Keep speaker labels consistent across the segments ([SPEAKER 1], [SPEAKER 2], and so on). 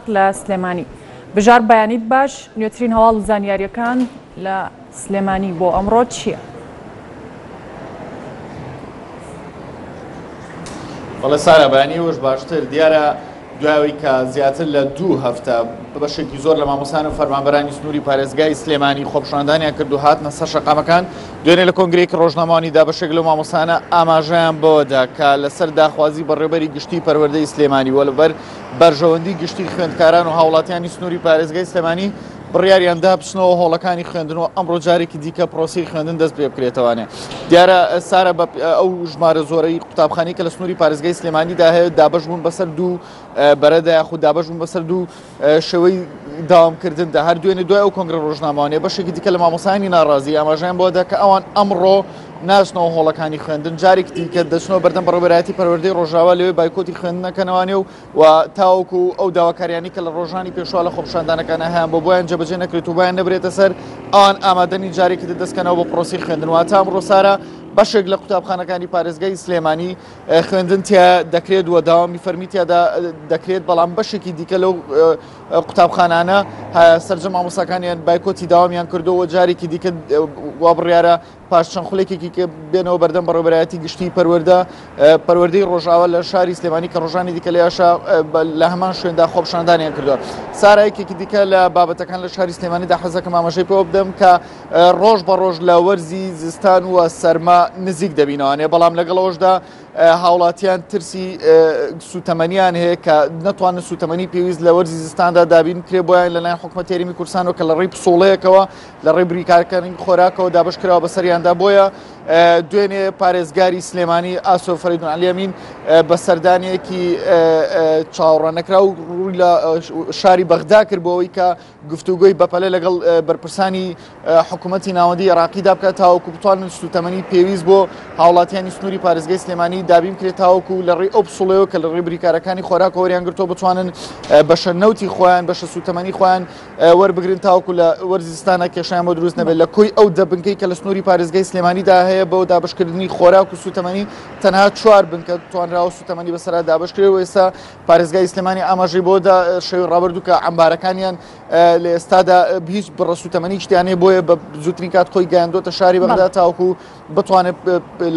[SPEAKER 1] لە سلێمانی بژار بەیانیت باش نوێترین هەواڵ و زانیاریەکان لە سلێمانی بۆ ئەمڕۆ چییە؟
[SPEAKER 2] بەڵێ سارا بەیانی وەش باشتر دیارە دوایەوەی کە زیاتر لە دوو هەفتە بەشێکی زۆر لە مامۆسان و فەرمانبەرانی سنووری پارێزگای سلێمانی خۆپشاندانیان کرد و هاتنە سەر شەقامەکان دوێنێ لە کۆنگرێکی ڕۆژنامەوانیدا بەشێک لە مامۆسانە ئاماژەیان بەوەدا کە لەسەر داخوازی بەڕێبەری گشتی پەروەردەی سلێمانی وە لەبەر بەرژەوەندی گشتی خوێندکاران و هاوڵاتیانی سنووری پارێزگای سلێمانی بڕیاریان دا بچنەوە هۆڵەکانی خوێندن و ئەمڕۆ جارێکی دیکە پرۆسی خوێندن دەست پێ بکرێتەوانێ دیارە سارە بە ئەو ژمارە زۆرەی قوتابخانی کە لە سنووری پارێزگای سلێمانیدا هەیە دابش بوون بەسەر دوو بەرەدا یاخود دابش بوون بەسەر دوو شێوەی داوامکردن دا هەر دوێنێ دوای ئەو کۆنگرە ڕۆژنامەوانێ بەشێکی دیکە لە مامۆسانی ناڕازی ئاماژیان بۆدا کە ئەوان ئەمڕۆ ناچنەوە هۆڵەکانی خوێندن جارێکی دیکە دەچنەوە بەردەم بەڕێوەبەرایەتی پەروەردەی ڕۆژاوا لەوێ بایکۆتی خوێندنەکەنەوانێ و تاوەکو ئەو داواکاریانی کە لە ڕۆژانی پێشوا لە خۆپشاندانەکانە هەیان بۆ بۆیان جەبەجێ نەکرێت و بۆیان نەبرێتە سەر ئەوان ئامادەنی جارێکی دەستکەنەوە بۆ پرۆسی خوێندن واتە ئەمڕۆ سارە بەشێک لە قوتابخانەکانی پارێزگای سلێمانی خوێندن تیا دەکرێت و داوامی فەرمی تیادا دەکرێت بەڵام بەشێکی دیکە لەو قوتابخانانە سەرجە مامۆساکانیان بایکۆتی داوامیان کردو و جارێکی دیکە وابڕیارە پاش چەند خولێکێکی کە بێنەوە بەردەم بەڕێبەرایەتی گشتی پەروەەردە پەروەردەی ڕۆژاوە لە شاری سلێمانی کە ڕۆژانی دیکە لە یاشا لە هەمان شوێندا خۆپشاندانیان کردووە سارایکێکی دیکە لە بابەتەکان لە شاری سلێمانیدا حەزەکە مامەژەی پێوە بدەم کە ڕۆژ بە ڕۆژ لە وەرزی زستان و سەرما نزیک دەبینەوەانێ بەڵام لەگەڵەوەشدا هاوڵاتیان ترسی سوتەمەنیان هەیە کە نەتوانن سوتەمەنی پێویست لە وەرزی زستاندا دابین کرێ بۆیان لەلایەن حکومەتێریمی کورسان و کە لە ڕێی پسۆڵەیەکەوە لە ڕێی بریکارەکانی خۆراکەوە دابەش کراوە بەسەریاندا بۆیە دوێنێ پارێزگاری سلێمانی ئاسۆ فەریدون عەلی ئەمین بە سەردانێکی چاوەڕە نەکرا و ڕووی لە شاری بەغدا کرد بۆەوەی کە گفتوگۆی بەپەلە لەگەڵ بەرپرسانی حکوومەتتی ناوەندی عراقیدا بکات تاوەکو بتوانن سوتەمەنی پێویست بۆ هاوڵاتیانی سنووری پارێزگەی سلێمانی دابین کرێت تاوەکو لە ڕێی ئەو پسڵەوە کە لە ڕێبریکارەکانی خۆراکۆریان گرتۆ بتوانن بەشە نەوتی خۆیان بەشە سوتەمەنی خۆیان وەربگرن تاوکو لە وەرزی زستانە کێشیان بۆ دروست نەبێت لە کۆی ئەو دە بنکەی کە لە سنووری پارێزگای سلێمانیدا هەیە بۆ دابشکردنی خۆراک و سوتەمەنی تەنها چوار بنکە توانراوە سوتەمەنی بەسرا دابشکرێت و ئێستا پارێزگای سلێمانی ئاماژەی بۆدا شەوی ڕابردوو کە ئەمبارەکانیان لە ئێستادا هیچ بڕە سوتەمەنی شتیانەیە بۆیە بە زووترین کات خۆی گەیاندۆتە شاری بەغدا تاوکو بتوانێت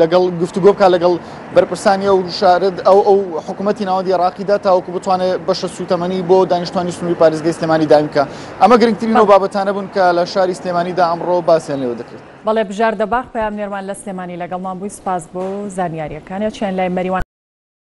[SPEAKER 2] لەگەڵ گفتوگۆ بکە لەگەڵ بەرپرسانی ئەو شارد ئەو ئەو حکوومەتتی ناوەندی ڕاقیدا تاوەکو بتوانێت بەشە سووتەمەنی بۆ دانیشتوانی سنووری پارێزگەی سلێمانی داینکە ئەمە گرنگترین و بابەتانە بوون کە لە شاری سلێمانیدا ئەمڕۆ باسییان لێوە دەکرێت بەڵێ بژار
[SPEAKER 1] دەباغ پەیامنێرمان لە سلێمانی لەگەڵمان بووی سپاس بۆ زانیاریەکانە چیان لای مەریوان